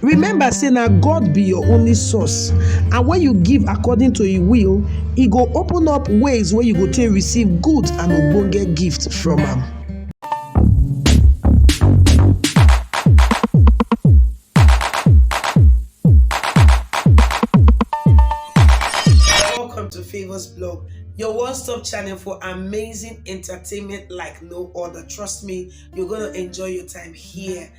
Remember say na God be your only source and when you give according to him will, e go open up ways wey you go take receive good and ogbonge gift from am. Welcome to Favors Blog, your one stop channel for amazing entertainment like no other. Trust me, you're going to enjoy your time here.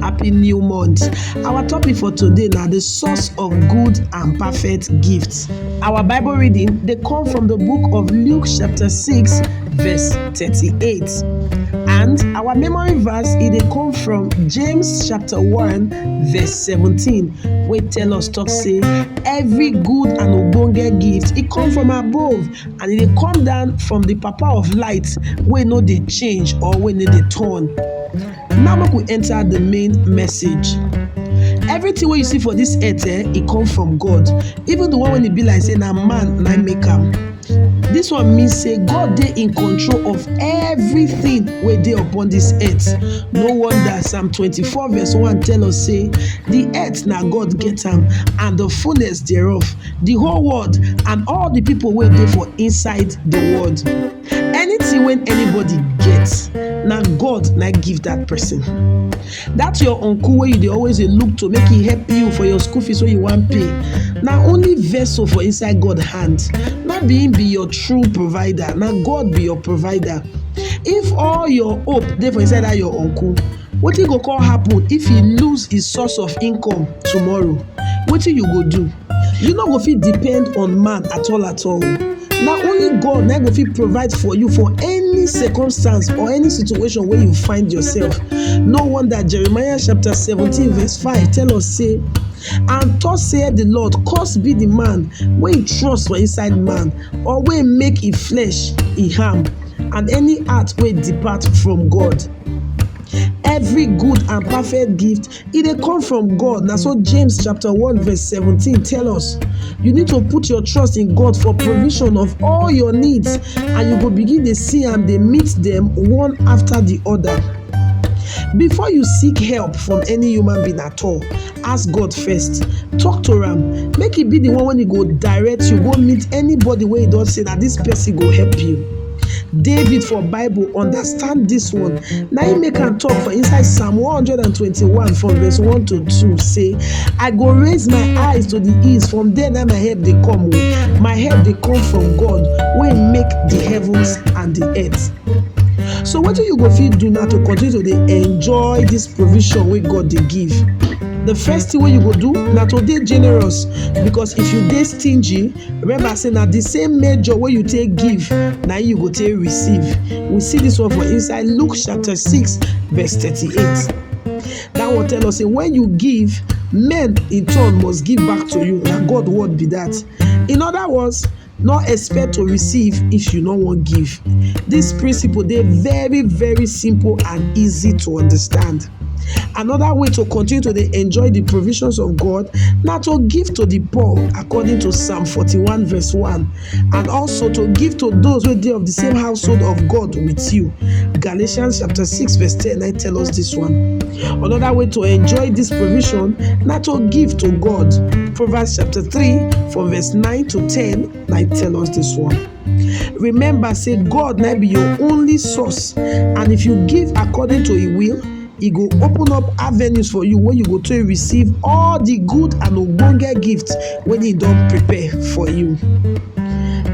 Happy new month. Our topic for today na the source of good and perfect gifts. Our Bible reading dey come from the book of Luke chapter 6 verse 38. And our memory verse e dey come from James chapter 1 verse 17 wey tell us talk say every good and ogbonge gift e come from above and e dey come down from the papa of light wey no dey change or wey no dey turn. Now make we enter the main message. Everything wey you see for this earth eh, e come from God. Even the one when e be like say na man na make am. This one mean say God dey in control of everything wey dey upon this earth. No wonder Psalm 24 verse 1 tell us say the earth na God get am and the fullness thereof, the whole world and all the people wey dey for inside the world. Anything wey anybody get na God na im give that person. That your uncle wey you dey always dey look to make e help you for your school fees wey you wan pay na only vessel for inside God hand. No be im be your true provider, na God be your provider. If all your hope dey for inside that your uncle, Wetin go come happen if he lose his source of income tomorrow? Wetin you go do? You no go fit depend on man at all at all. Na only God na go fit provide for you for any circumstance or any situation wey you find yourself. No wonder Jeremiah chapter seventeen verse five tell us say and thus saith the Lord, curse be the man wey he trust for inside man or wey make e flesh e harm and any heart wey depart from God. every good and perfect gift e dey come from god na so james chapter 1 verse 17 tell us you need to put your trust in god for provision of all your needs and you go begin dey see am dey meet dem one after the other before you seek help from any human being at all ask God first, talk to am, make e be the one wey e go direct you go meet anybody wey you don say na this person go help you. David for Bible understand this one, na im make am talk for inside Psalm 121 from verse 1 to 2 say, I go raise my eyes to the east, from there na my help dey come o, my help dey come from God wey make the heavens and the earth. So wetin you go fit do now to continue to dey enjoy this provision wey God dey give? The first thing wey you go do na to dey generous because if you dey stingy, remember say na the same measure wey you take give na you go take receive. We see this one for inside Luke chapter 6 verse 38. That one tell us say when you give, men in turn must give back to you. Na God word be that. In other words, no expect to receive if you no wan give. Dis principle dey very very simple and easy to understand. Another way to continue to dey enjoy the provisions of God na to give to the poor according to Psalm forty-one verse one and also to give to those wey dey of the same household of God with you. Galatians chapter six verse ten na im tell us this one. Another way to enjoy this provision na to give to God. Proverbs chapter 3 from verse 9 to 10 na tell us this one. Remember say God na be your only source and if you give according to im will, e go open up avenues for you wey you go take receive all the good and ogbonge gifts wen im don prepare for you.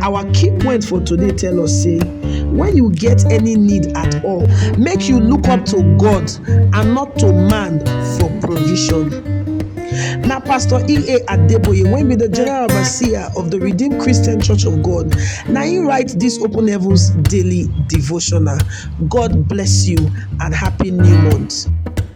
Our key point for today tell us sey wen you get any need at all make you look up to God and not to man for provision. Na pastor EA Adeboye wey be de general overseer of de Redeem Christian Church of God na im write dis open heavens daily devotional. God bless you and happy new month.